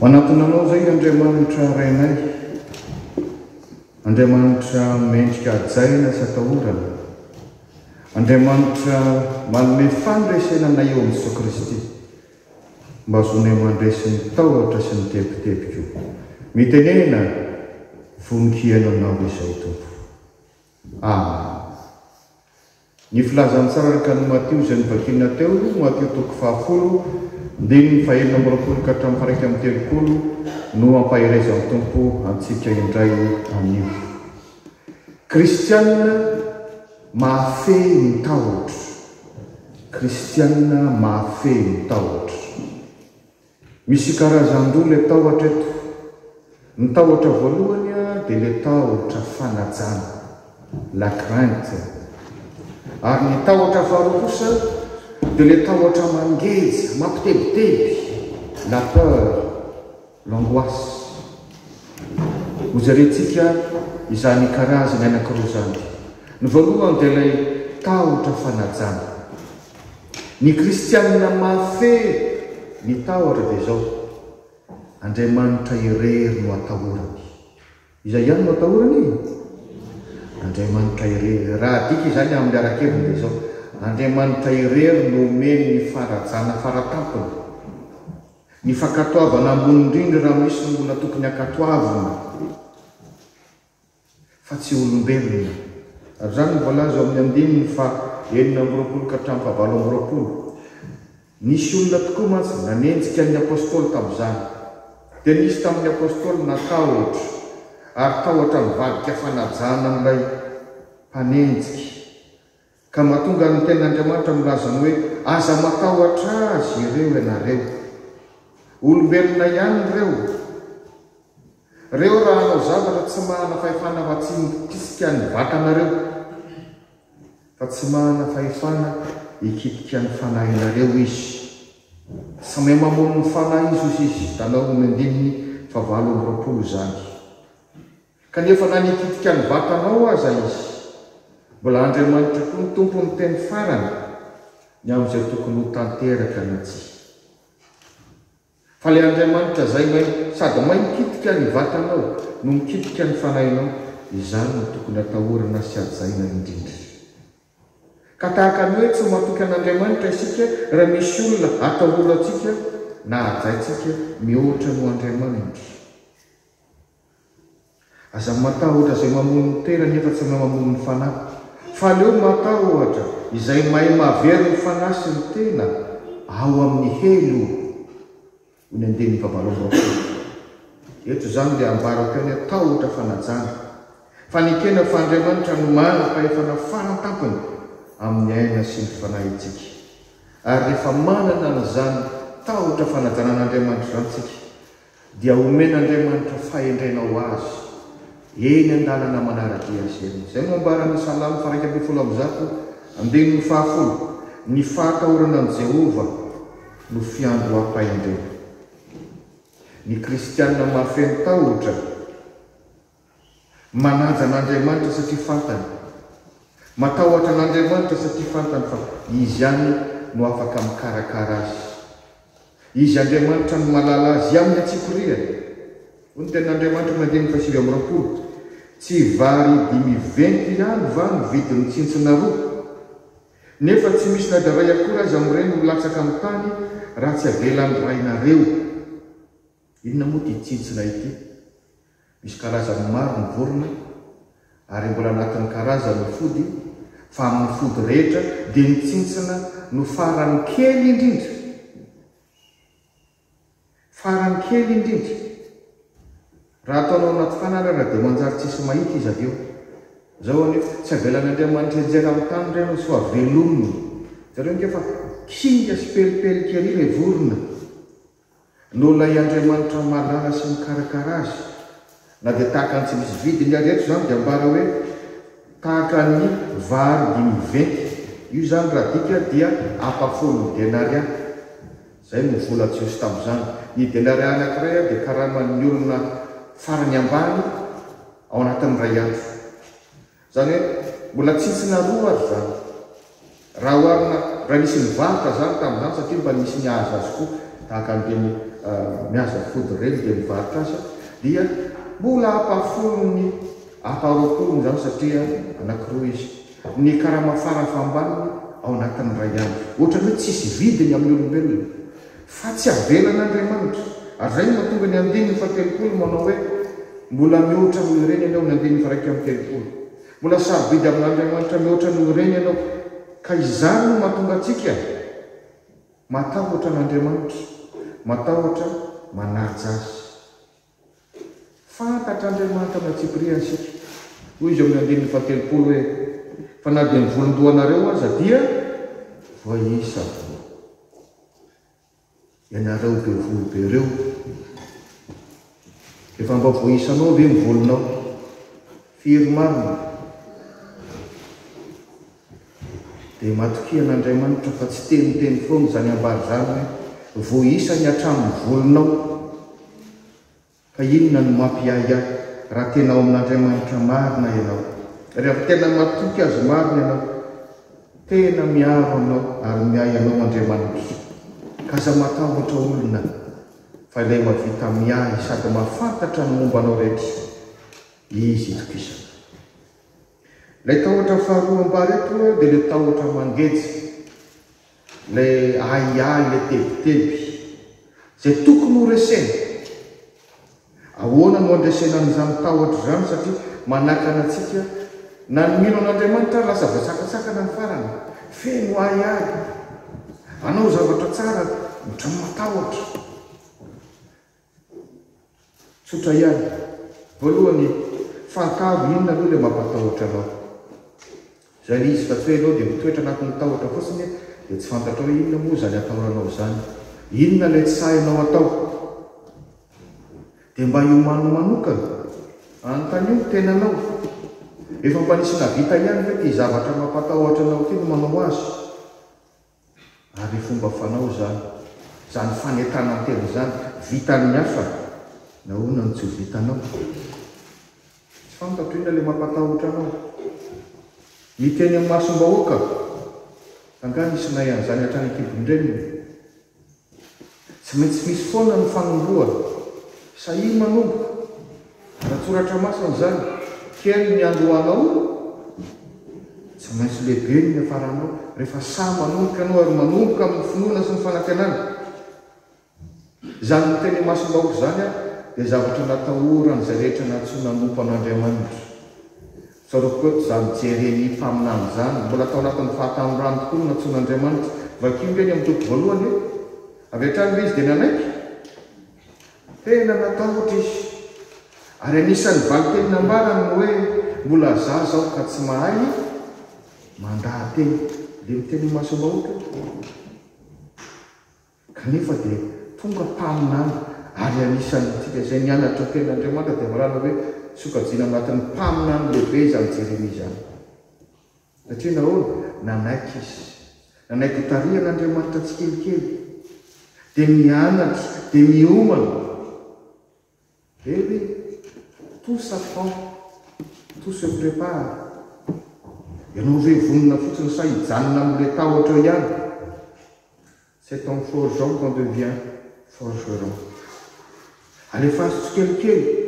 Manatona anao izay Andriamanitra Rainay, Andriamanitra mendrika hajaina sy atahorana, Andriamanitra manome fandresena anay eo amin'i Jesoa Kristy. Mba vonay mandresy ny tahotra sy ny tebitebiko. Mitenena vonon-kiheno aminao izay, Tompo. Amen. Ny filazantsararaka an'i Matio izay novakina teo, Matio toko fahafolo, ndininy fahenina amby roapolo ka hatramin'ny faharaika amby telopolo, no ampaherezan'ny Tompo antsika indray anio. Kristianina. Mahafehy ny tahotra. Kristiana mahafehy ny tahotra. Misy karazan-droa ilay tahotra eto. Ny tahotra voalohany dia ilay tahotra fanajana, la crainte. Ary ny tahotra faharoa kosa dia ilay tahotra mangeja, mampitebiteby, la peur. L'angoisse. Hojerentsika izany karazany anankiroa izany. Ny voalohany dia ilay tahotra fanajana. Ny kristianina mahafehy ny tahotra dia izao, Andriamanitra irery no atahorany. Iza ihany no atahorany? Andriamanitra irery. Raha adika izany amin'ny ara-keviny dia izao, Andriamanitra irery no omeny ny fanajana fara tampony. Ny fankatoavana ambony indrindra raha misy no mbola tokony hankatoavina fa tsy olombelona. Ary izany no voalaza eo amin'ny andininy faha enina amby roapolo ka hatramin'ny faha valo amby roapolo. Nisy olona tokoa mantsy nanenjika ny Apostoly tamin'izany. Dia nisy tamin'ny Apostoly natahotra ary tahotra nivadika fanajana an'ilay mpanenjika. Ka mahatonga ny Tenin'Andriamanitra milaza ny hoe, Aza matahotra azy ireo ianareo. Olombelona ihany ireo. Ireo raha hanao zavatra tsy mahana fahefana afa-tsy mikitika ny vatanareo, fa tsy mahana fahefana hikitika ny fanahinareo izy. Samia mamono ny fanahy izy, hoy izy, Tanao ny andininy fahavalo amby roapolo izany. Kanefa na nititika ny vatanao aza izy, mbola Andriamanitra koa ny Tompo miteny farany ny amin'izay tokony ho tanteraka na tsia. Fa ilay Andriamanitra izay mahay sady mahay mititika ny vatanao no mikitika ny fanahinao, izany no tokony atahorana sy hajaina indrindra. Ka tahaka ny hoe tsy ho matoky an'Andriamanitra isika raha misy olona atahorantsika na hajaintsika mihoatra noho Andriamanitra. Aza matahotra izay mamono ny tena nefa tsy mahay mamono ny fanahy, fa aleo matahotra izay mahay mahavery ny fanahy sy ny tena ao amin'ny helo, hoy ny andininy fahavalo amby roapolo. Eto izany dia ambara ho toy ny hoe tahotra fanajana, fa nekena fa Andriamanitra no manam-pahefana faran'ny tampony amin'ny aina sy ny fanahintsika. Ary rehefa manana an'izany tahotra fanajana an'Andriamanitra izany isika dia omen'Andriamanitra fahendrena ho azy eny an-dalana manara-dia azy eny. Izay no ambaran'ny Salamo faha-iraika ambin'ny folo amby zato, andininy fahafolo, Ny fahatahorana an'i Jehovah no fiandoham-pahendrena. Ny kristiana mahafeno tahotra. Manaja an'Andriamanitra satria fantany. Matahotra an'Andriamanitra satria fantany fa Izy ihany no afaka mikarakara azy. Izy Andriamanitra no mahalala azy amin'ny antsipirihany. Hoy ny Tenin'Andriamanitra amin'ny andininy fahasivy amby roapolo, Tsy vary dimy venty ihany va no vidin'ny tsintsina roa? Nefa tsy misy na dia iray akory aza amin'ireny no latsaka amin'ny tany raha tsy avelan'ny Rainareo. Inona moa ity tsintsina ity? Misy karazany maro ny vorona ary mbola anatin'ny karazany ny fody fa amin'ny fody rehetra dia ny tsintsina no farany kely indrindra. Farany kely indrindra. Raha ataonao anaty fanarara dia manjary tsisy mahita izy avy eo. Zao anie tsy avelan'Andriamanitra hianjera amin'ny tany ireny ny soa velominy. Jereo nge fa kinga sy pelipelika ery ilay vorona. Noho ilay Andriamanitra mahalala sy mikarakara azy. Na dia tahaka ny tsy misy vidiny ary eto izany dia ambara hoe tahaka ny vary dimy venty. Io izany raha adika dia ampafolon'ny denaria. Izay no vola Jiosy tamin'izany. Ny denaria anankiray dia karaman'ny olona farany ambany ao anatin'ny iray andro. Izany hoe mbola tsintsina roa ry zany raha oharina raha nisy nivarotra izany tamin'izany satria mba nisy nihaza azy koa tahaka an'ireny mihaza fody ireny dia mivarotra azy dia mbola ampahafolony ampaharoapolony izany satria anankiroa izy. Ny karama fara fahambaniny ao anatin'ny iray andro. Ohatran'ny hoe tsisy vidiny amin'ny olombelona. Fa tsy avelan'Andriamanitra. Ary izay no mahatonga ny andininy fahatelopolo manao hoe, Mbola mihoatra noho ireny ianao, ny andininy faha-iraika amby telopolo. Mbola sarobidy amin'Andriamanitra mihoatra noho ireny ianao. Ka izany no mahatonga antsika matahotra an'Andriamanitra, matahotra manaja Azy. Fantatr'Andriamanitra ny antsipiriany isika. Hoy Izy ao amin'ny andininy fahatelopolo hoe, Fa na dia ny volon-dohanareo aza dia voaisa voa. Ianareo be volo be ireo, efa mba voaisanao ve ny volonao? Firy marina? Dia matokian' Andriamanitra fa tsy teniteny foana izany ambara izany hoe, Vao isany hatramin'ny volonao ka inona no mampiahiahy raha tena ao amin' Andriamanitra marina ianao. Raha tena matoky Azy marina ianao, tena miaro anao ary miahy anao Andriamanitra. Ka aza matahotra olona fa Ilay mahavita miahy sady mahafantatra ny momba anao rehetra, Izy itokisana. Ilay tahotra faharoa ampahareto dia ilay tahotra mangeja, ilay ahiahy, ilay tebiteby, izay tokony ho resena. Ahoana no handresena an'izany tahotra izany satria manakana antsika na ny mino an'Andriamanitra ary lasa voasakasakana ny farany, feno ahiahy, hanao zavatra tsara ohatran'ny matahotra. Tsotra ihany. Voalohany, fahatavo, inona aloha ilay mampatahotra anao? Izay ilay izy fa tsy hoe ianao dia mitoetra anatin'ny tahotra fotsiny dia tsy fantatrao hoe inona moa izany atahoranao izany. Inona ilay tsy sahinao atao? Dia mba hiomano manokana. Anontanio ny tenanao. Efa mba nisy nahavita ihany ve ity zavatra mampatahotra anao ity no manao azy? Ary fomba fanao izany, izany fanentanantena izany, vitan'ny hafa, nahoana no tsy ho vitanao? Tsy fantatro inona ilay mampatahotra anao. Miteny amin'ny masom-bahoaka? Angaha nisy nahay an'izany hatrany an-kibon-dreniny? Tsy maintsy misy foana ny fanombohana. Sahia manomboka. An-tsoratra masina izany, Kely ny andohanao, tsy maintsy lehibe ny niafaranao. Rehefa sahy manomboka ianao ary manomboka amin'ny finoana sy ny fanantenana izany notenimasom-bahoaka izany dia zavatra natahoran'izay rehetra nantsoina hanompo an'Andriamanitra. Zareo koa za mijery an'iny mpaminany izany, mbola tao anatin'ny fahatanorany tokoa no nantsoin'Andriamanitra. Vakio nge ny amin'ny toko voalohany e! Avy hatrany ve izy dia nanaiky? Tena natahotra izy. Ary anisan'ny valinteny nambarany ny hoe, Mbola zaza aho ka tsy mahay mandaha-teny. Dia miteny imasom-bahoaka io. Kanefa dia tonga mpaminany ary anisan'ny antsika izay nianatra ny Tenin'Andriamanitra dia mahalala hoe sokajiana anatin'ny mpaminany lehibe izany Jeremia izany. Satria nahoana? Nanaiky izy. Nanaiky ho tarihan'Andriamanitra tsikelikely. Dia mianatra, dia miomana. Ve hoe tout ça prend, tout se prépare? Ianao ve vonona fotsiny sa hijanona amin'ilay tahotra eo ihany? C'est en forgeant qu'on devient forgeron. Alefaso tsikelikely!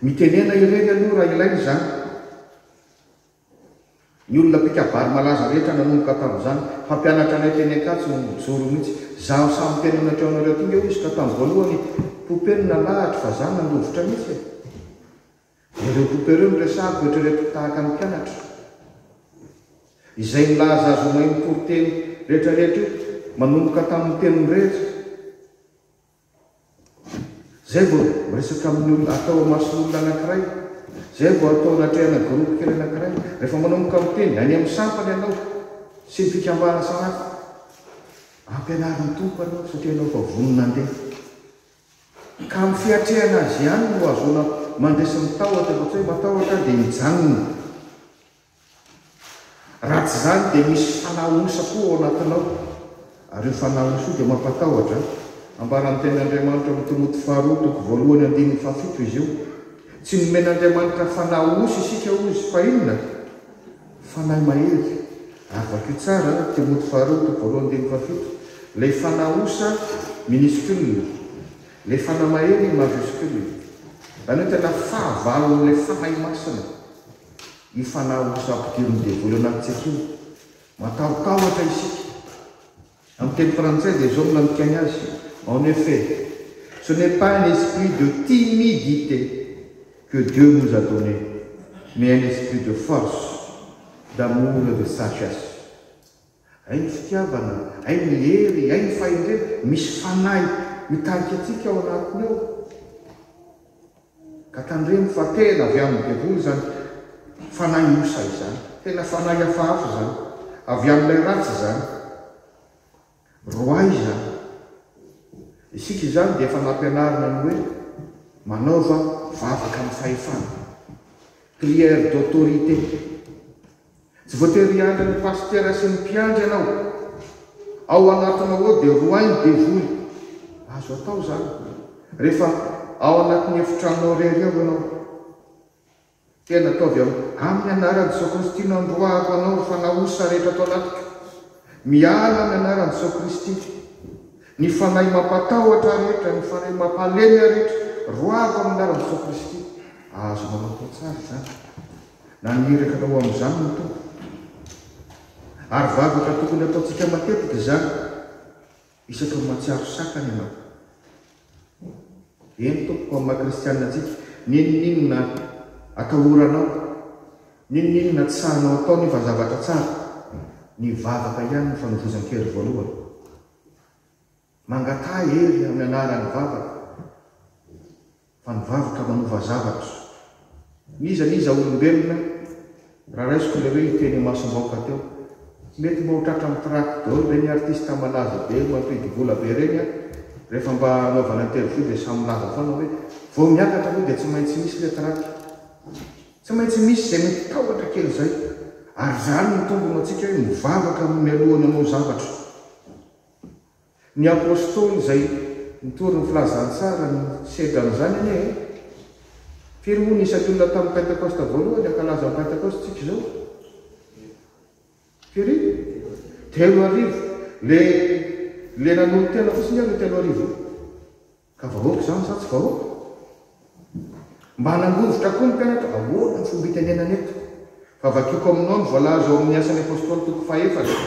Mitenena irery aloha raha ilaina izany. Ny olona mpikabary malaza rehetra nanomboka tamin'izany. Mpampianatra anay teny Ankatso no nijoro mihitsy. Izaho sahy miteny aminareo anareo aty nge hoy izy ka tamin'ny voalohany poupée no nalahatro fa izaho nandovitra mihitsy e! Ireo poupée ireo no resahako eritreretiko tahaka ny mpianatra izay nilaza azy ho mahay mitory teny rehetra rehetra io manomboka tamin'ny teny mirehitra. Izay vao miresaka amin'ny olona, atao amason'olona anankiray. Izay vao atao anatrehana groupe kely anankiray. Rehefa manomboka miteny any amin'ny sampana ianao sy ny fikambanana samihafa, ampianarin'ny Tompo anao satria ianao efa vonona handeha. Ka amin'ny fiatrehana azy ihany no ahazoana mandresy ny tahotra fa tsy hoe matahotra aho dia mijanona. Raha tsy izany dia misy fanahy osa koa ao anatinao, ary io fanahy osa io dia mampatahotra. Ambaran'ny Tenin'Andriamanitra ao Timoty Faharoa toko voalohany andininy fahafito izy io. Tsy nomen'Andriamanitra fanahy osa isika hoy izy, fa inona? Fanahy mahery. Ary vakio tsara, Timoty Faharoa toko voalohany andininy fahafito, ilay fanahy osa minuscule, ilay fanahy mahery majuscule. Izany hoe tena fahavalon'ilay Fanahy Masina. io fanahy ho sampidirin'ny devoly anatintsika io. Matahotahotra isika. Amin'ny teny frantsay dia izao no nandikan'ny azy, En effet, ce n'est pas un esprit de timidité que Dieu nous a donné, mais un esprit de force, d'amour et de sagesse. Hay ny fitiavana, hay ny hery, hay ny fahendrena, misy fanahy mitarika antsika ao anatiny ao. Ka tandremo fa tena avy amin'ny devoly izany fanahy osa izany. Tena fanahy hafahafa izany. Avy amin'ilay ratsy izany. Roahy izany. Isika izany dia efa nampianarina ny hoe manaova vavaka amin'ny fahefana. Prière d'autorité. Tsy voatery hiandry ny pasitera sy ny mpiandry ianao. Ao anatinao ao dia roahin'ny devoly. Azo atao izany, rehefa ao anatin'ny efitranonao irery ao ianao. Tena ataovy ao. Amin'ny anaran'i Jesoa Kristy nandroahako anao ry fanahy osa rehetra ato anatiko. Miala amin'ny anaran'i Jesoa Kristy. Ny fanahy mampatahotra rehetra, ny fanahy mampahalemea rehetra, roahako amin'ny anaran'i Jesoa Kristy. Azonao atao tsara izany. Na ny iraka atao amin'izany no tompoko. Ary vavaka tokony ataontsika matetika izany, isaky ny mahatsiaro sakana ianao. Eny tompoko, amin'ny maha kristianina antsika, n'inon'inona atahoranao, n'inon'inona tsy sahanao atao nefa zavatra tsara, ny vavaka ihany no fanovozan-kery voalohany. Mangataha hery amin'ny anaran'ny vavaka, fa ny vavaka manova zavatra. N'iza n'iza olombelona, raha raisiko ilay hoe hiteny imasom-baoka teo. Mety mba ho tratra amin'ny track daholo ve ny artiste malaza be mampidi vola be ireny an? Rehefa mba anaovana interview dia samy milaza foana hoe vao miakatra aloha dia tsy maintsy misy ilay track. Tsy maintsy misy izay mety tahotra kely izay. Ary izany no tombony ho antsika hoe mivavaka mialoha ny hanao zavatra. Ny Apôstôly izay nitory ny Filazantsara no nisedra an'izany anie e! Firy hono isaky olona tamin'ny Pentekosta voalohany hankalaza ny Pentekostintsika izao? Firy? Telo arivo! Le le nanolo-tena fotsiny ary io telo arivo io. Ka vahoaka izany sa tsy vahoaka? Mba hanangovitra koa ny mpianatra, ahoana ny fomba hitenenana eto? Fa vakiako aminao ny voalaza ao amin'ny Asan'ny Apostoly toko fahefatra,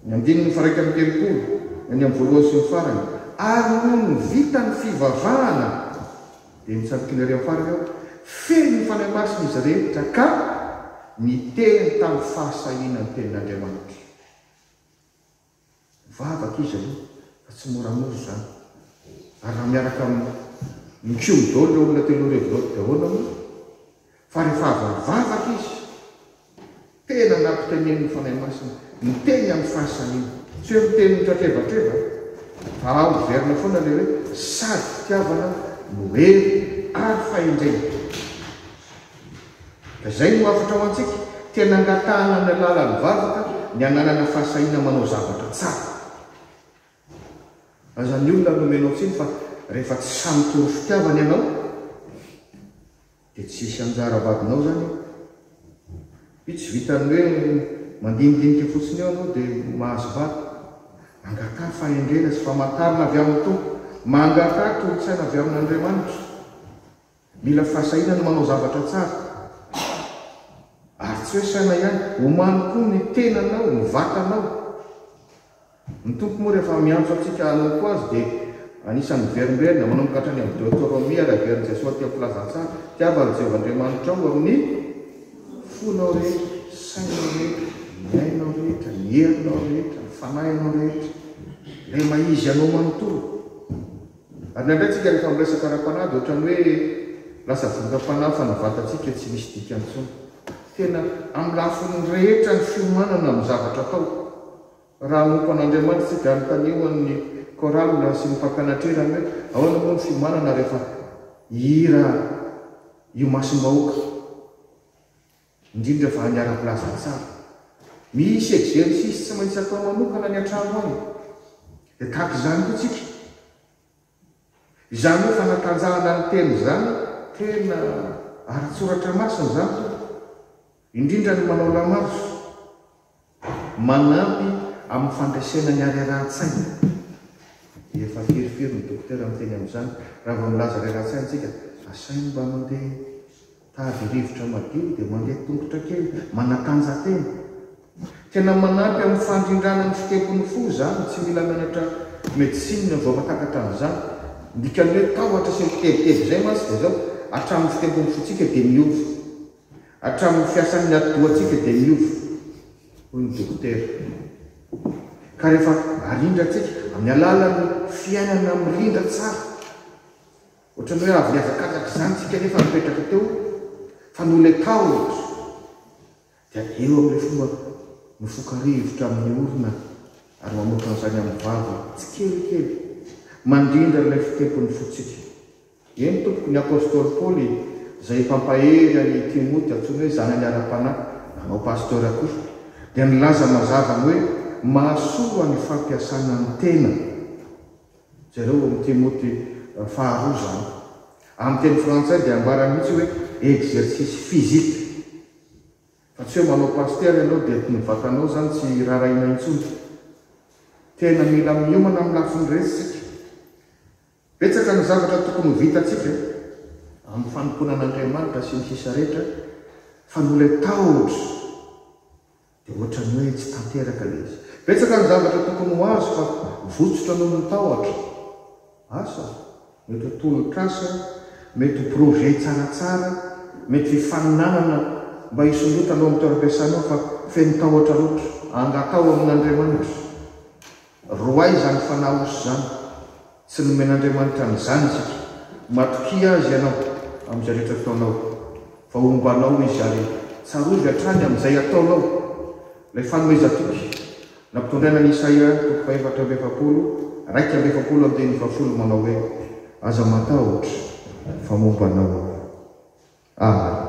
ny andininy faha-iraika amby telopolo, ny any amin'ny voalohany sy ny farany, Ary nony ho vita ny fivavahana, dia nitsampina ery amin'ny farany aho, feno ny Fanahy Masina izy rehetra ka niteny tamin'ny fahasahiana ny tenin'Andriamanitra. Vavaka izy aloha fa tsy moramora izany. Ary raha miaraka amin'ny mpiombo daholo ireo olona telo arivo ireo daholo moa fa rehefa avy nivavaka izy tena nampiteneniny ny Fanahy Masina niteny amin'ny fahasahiana. Tsy hoe miteny mitratrebatreba fa ao miverina foana ilay hoe sady fitiavana no hery ary fahendrena. Izay no hafatra ho antsika. Tena angatahana amin'ny alalan'ny vavaka ny hananana fahasahiana manao zavatra tsara. Aza ny olona nomenao tsiny fa rehefa tsy sahy mitory fitiavana ianao dia tsy hisy anjara vadinao izany eo. Io tsy vitan'ny hoe mandinidinika fotsiny eo ianao dia ho mahazo vady. Mangataha fahendrena sy famantarana avy amin'ny Tompo. Mangataha toro-tsaina avy amin'Andriamanitra. Mila fahasahiana ny manao zavatra tsara. Ary tsy hoe saina ihany, omaly koa ny tenanao, ny vatanao. Ny Tompo moa rehefa miantso antsika hanompo Azy dia anisan'ny miverimberina, manomboka hatrany amin'ny Deotoromia ary averin'i Jesoa aty amin'ny Filazantsara. Tiava an'i Jehovah Andriamanitrao ao amin'ny fonao rehetra, sainao rehetra, ny ainao rehetra, ny herinao rehetra, ny fanahinao rehetra. Ilay maha izy anao manontolo. Ary nandray antsika rehefa miresaka ara-panahy dia ohatran'ny hoe lasa vondram-panahy fanavantantsika tsy misy dikany intsony. Tena amin'ny lafiny rehetra ny fiomanana amin'ny zavatra atao. Raha hanompo an'Andriamanitra isika, anontanio an'ny chorale sy ny fakana trera ny hoe ahoana moa ny fiomanana rehefa hihira io masom-bahoaka indrindra fa ny ara-pilaza tsara. Misy exercice tsy maintsy atao manokana any an-trano any, dia tahaka izany koa tsika. Izany hoe fanatanjahana ny tena izany tena ara-tsoratra masina izany tompoko, indrindra ny manao lamazo, Manampy amin'ny fandresena ny harerahan-tsaina. Efa firifiry ny dokotera miteny amin'izany. Raha vao milaza harerahan-tsaina isika, asainy mba mandeha tady rivotra madio, dia mandeha tongotra kely, manatanjatena. Tena manampy amin'ny fandrindrana ny fitempon'ny fo izany. Tsy mila mianatra medecine vao mahatakatra an'izany. Ny dikan'ny hoe tahotra sy ny kibebikeby izay mantsy dia izao, hatramin'ny fitempon'ny fontsika dia miova. Hatramin'ny fiasan'ny atidohantsika dia miova, hoy ny dokotera. Ka rehefa arindrantsika amin'ny alalan'ny fiainana mirindra tsara, ohatran'ny hoe avy nihazakazaka izany isika nefa nipetraka teo fa noletaho eto, dia eo amin'ilay fomba mifoka rivotra amin'ny orona ary mamoaka an'izany amin'ny vava tsikelikely mandrindra ilay fitempon'ny fontsika. Eny tompoko, ny apostoly Paoly izay mpampahery an'i Timoty, antsoiny hoe zanany ara-panahy, nanao pasteur koa, dia nilaza mazava ny hoe mahasoa ny fampiasana ny tena, jereo ao amin'ny Timoty faharoa izany. Amin'ny teny frantsay dia ambarany mihitsy hoe exercice physique, fa tsy hoe manao pasteur ianao dia ny vatanao izany tsy rarahiana intsony. Tena mila miomana amin'ny lafiny rehetra isika. Betsaka ny zavatra tokony ho vitantsika amin'ny fanompoana an'Andriamanitra sy ny sisa rehetra fa noho ilay tahotra dia ohatran'ny hoe tsy tanteraka ilay izy. Betsaka ny zavatra tokony ho azo fa votsotra noho ny tahotra. Asa, mety ho tolok'asa, mety ho projet tsaratsara, mety ho hifaninanana mba hisondrotanao amin'ny toeram-piasanao fa feno tahotra loatra. Angataho amin'Andriamanitra. Roahy izany fanahy osy izany. Tsy nomen'Andriamanitra an'izany isika. Matokia Azy ianao amin'izay rehetra ataonao, fa homba anao Izy ary tsarovy hatrany amin'izay ataonao ilay fanomezan-toky nampitondraina an'i Isaia toko fahefatra amby efapolo, iraika amby efapolo andininy fahafolo manao hoe, Aza matahotra, fa momba anao Aho. Amen.